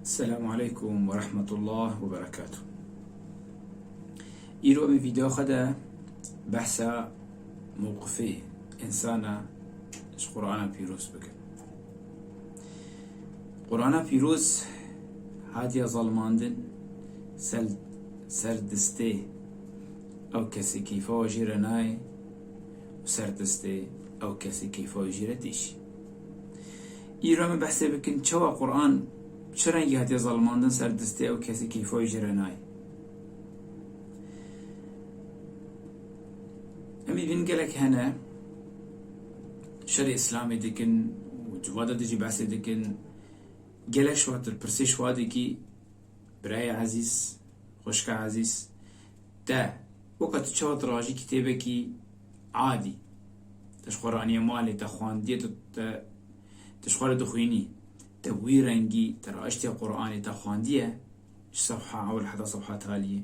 Selamu aleykum ve rahmetullah ve berekatuh. Îro em vîdeo xwe de behsa mewqifê insana ji Qur'ana pîroz bikin. Qur'ana pîroz hatiye zalmandin ser ser distê ew kesê keyfa jî re nayê û ser distê ew kesê keyfa jî re têşî. Îro me behsê bikin çawa Quran çi rengî hatiye zalimandin ser distê ew kesî keyfa wî jê re nayê. Em ê bînin gelek hene şerê îslamê dikin û civada dijî behsê dikin. Gelek şiwatir pirsê şiwadekî birayê ezîz, xweşika ezîz te weka tu çawa tirajî kîtêbekî adî. Te ji xwe re aniye malê, te xwendiye, tu te tu ji xwe re dixwînî. Te wî rengî, te raiştiye Quranê, te xwendiye ji sefha ewil heta sefha taliyê.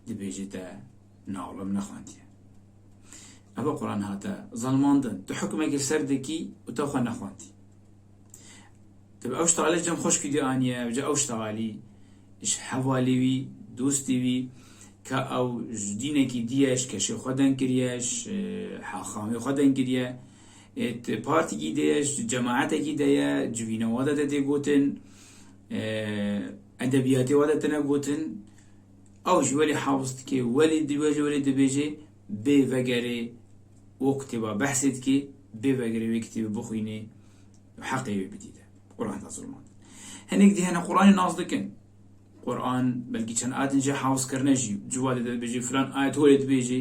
Dibêjî te na wila min nexwendiye. Ev e Quran hate zelmandin. Tu hukmekê ser dikî û te xwe nexwendî. Tu bi ew şta alî cem xweşkî dî aniye ew ca ew şta alî ji hevalî wî dostî wî ka ew ji dînekî dîye ji keşê xwe deng kiriye ji haxamê xwe deng kiriye tu partîkî de ye ji cemaetekî de ye civîna we de te tê gotin edebiyatê we de tine gotin ew ji welî hews dike welî welî dibêje bê vegerê wê kitêba behsê dikê, bê vegerê wê kitêbê bixwînê û heqê wê bidîde û rehna zilman. Hinek dî hene Quranê nas dikin. Quran belkî çend ayetin jî hewz kirine jî civadê de dibêjî filan ayet holê dibêjî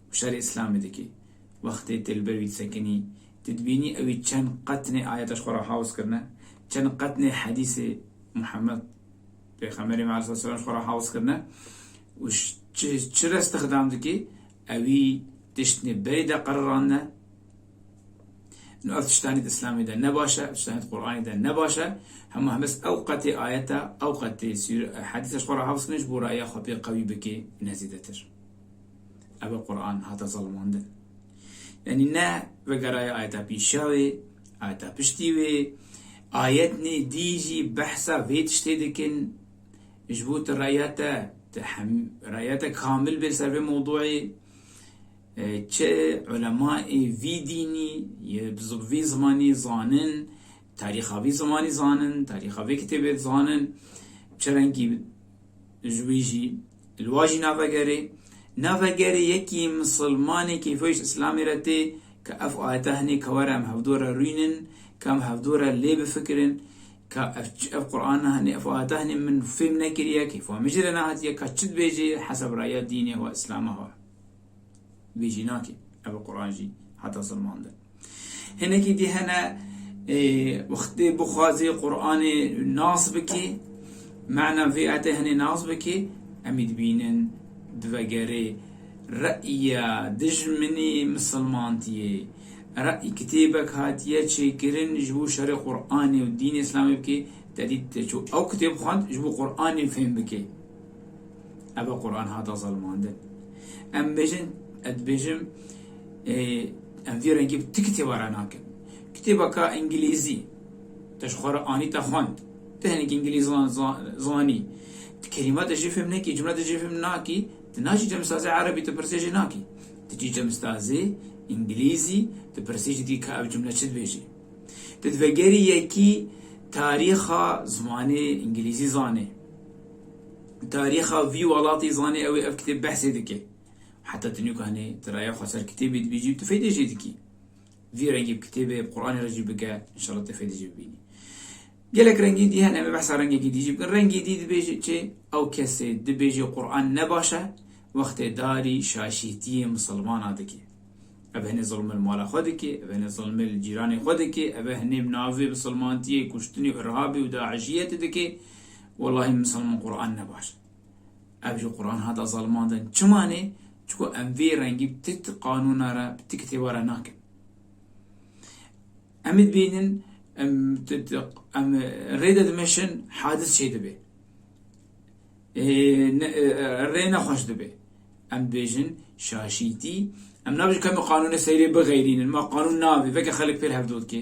û şerê îslamê dikê. Wextê tê li ber wî disekinî, tu dibînî ewî çend qet nê ayeta ji xwe re hewz kirine, çend qet nê hedîsê Muhammed, Pêxemberê me aleyh selam ji xwe re hez kirine û ji çi re stixdam dike, ewî tiştnê berê de qerirandine. Nû ev tiştanî di Îslamê de ne baş e, ev tiştanî di Quranê de ne baş e. Hema hemez ew qetê ayeta, ew qetê hedîsa ji xwe re hez kirine ji bo raya xwe pê qewî bike ne zêdetir. Ev e Quran hate zelimandin. Yanî ne vegeraya ayeta pîşewê, Heta piştî wê ayetnê dî jî behsa vê tiştê dikin, ji bo tu reya te, tu hem reya te kamil bê li ser vê mewduê, çi ulemaê vî dînî yê vî zimanî zanin, tarîxa vî zimanî zanin, tarîxa vê kitêbê zanin, çi rengî ji wî jî Li wa jî nava gerê. Nava gerê yekî misilmanê keyfewîşt îslamê re tê ka ev ayeta hinê ka were em hevdû re rûînin, ka em hevdû re lê bifikirin ka ev çi ev Qur'ana hinê, ev ayeta hinê min fêm nekiriye, keyfa min jî re nehatiye ka çi dibêjê hesab raya dînê xwe, îslama xwe. Vê jî nake. Ev Quran jî heta zilman de. Hinekî dî hene wextê bixwazê Quranê nas bikê, mana vê ayetê hinê nas bikê, emî dibînin divegerê re'ya dijminê misilmantiyê. Re'y kitêbek hatiye çêkirin ji bo şerê Quranê û dînê Îslamê bikê, te dît te çû ew kitêb xwend ji bo Quranê fêm bikê. Eva Quran hata zelmandin. Em bêjin, ez dibêjim em vî rengî bi ti kitêba re nakin. Kitêbaka îngilîzî te ji xwe re anî te xwend. Ti hinekî îngilîzî zanî. Ti kelîma te jê fêm nekî, cumle te jê fêm nakî, ti naçî cemistazê erebî ti pirsê jê nakî. Ti çî cemistazê îngilîzî ti pirsê jî dikî ka ev cumle çi dibêjê. Ti divegerî yekî tarîxa zimanê îngilîzî zanê. Tarîxa vî welatî zanî ew ê ev kitêb behsê dike. Heta tu nûkanê, tu raya xwe ser kitêbê dibîjî û tu feydê jê dikî. Vî rengî bi kitêbê, bi Quranê re jî bike, înşallah tu feydê jê bibînî. Gelek rengî dî hene, em ê behsa rengekî dî jî bikin. Rengî dî dibêje çê? Ew kesê dibêje Quran ne baş e, wextê darî şaşîtiyê misilmana dike. Ev hinê zilm li mala xwe dike, ev hinê zilmê li cîranê xwe dike, ev e hinê bi navê misilmantiyê kuştinê û irhabê û daişiyetê dike. Wellahî misalman Quran ne baş e. Ev ji Quran hata zalimandin. Çima ne? Çiko em vê rengî bi ti qanûna re, bi ti kitêba re nakin. Em ê bînin em em rê de dimeşin hadis çê dibe. Rê nexweş dibe. Em dibêjin şaşîtî em nabêjin kemê qanûnê seyrê bighêrînin. Ma qanûn navê veke xelek pêl hevdotke.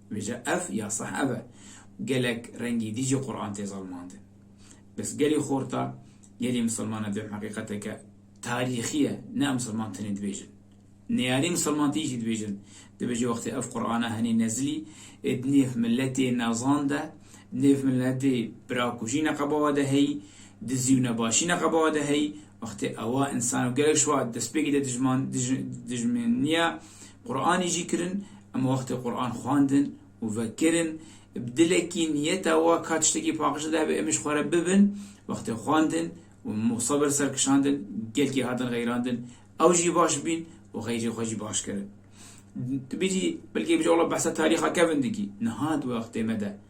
Vêje ev ya seh ev e. Gelek rengî dî jî Quran tê zalmandin. Bes gelî xorta, gelî misilman e duyem heqîqeteke tarîxî ye, ne misilman tenê dibêjin. Neyarî misilmantî jî dibêjin. Dibêje wextê ev Qurana henî nezilî ê di nêv miletê nezan de, di nêv miletê birakujî neqeba we de heyî, dizî û nebaşî neqeba we de heyî, wextê ewa însan û gelek ji we destpêkê de dijman, dij, dijminîya Quranê jî kirin, em wextê Quran xwendin û vekirin, bi dilekî niyeta wa ka tiştekî paqij li dayê em jî xwe re bibin, wextê xwendin û musabir ser kişandin, gelkî hatin xeyrandin, ew jî baş bîn û xeyrê xwe jî baş kirin. Tu bêjî belkî bêjî wela behsa tarîxa kevin dikî, niha di wextê me de,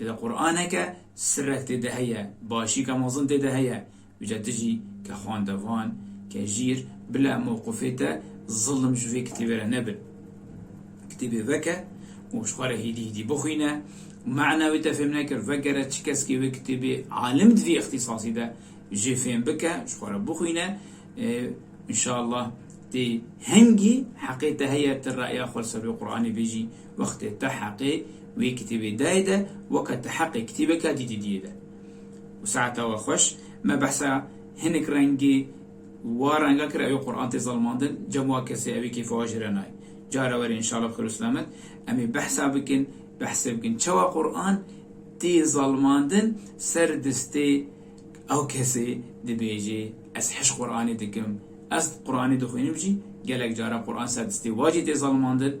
Lê di Quraneke sirek tê de heye, başîke mezin tê de heye. Îca tu jî ke xwendevan, ke jîr, bile mewqifê te zilim ji vê kitêbê re nebe. Kitêbê veke û ji xwe re hîdî hîdî bixwîne û mana wê te fêm nekir, vegere çi keskê wê kitêbê alim di vê îxtîsasî de jê fêm bike, ji xwe re bixwîne. Înşallah tê hingî heqê te heye tu reya xwe li ser wê Quranê bêjî. Wextê te heqê wê kitêbê dayê de weke te heqê kitêbeke dîtî diyê de. Û saeta we xweş me behsa hinek rengê wa renga kir ew ê Quran tê zilmandin cem wa kesê ew ê kêfa we jire nayê. Cara were înşala bi xêr û selamet em ê behsa bikin behsê bikin çawa Quran tê zilmandin ser distê ew kesê dibêjê ez hişk Quranê dikim ez Quranê dixwînim jî gelek cara Quran ser distê wa jî tê zilmandin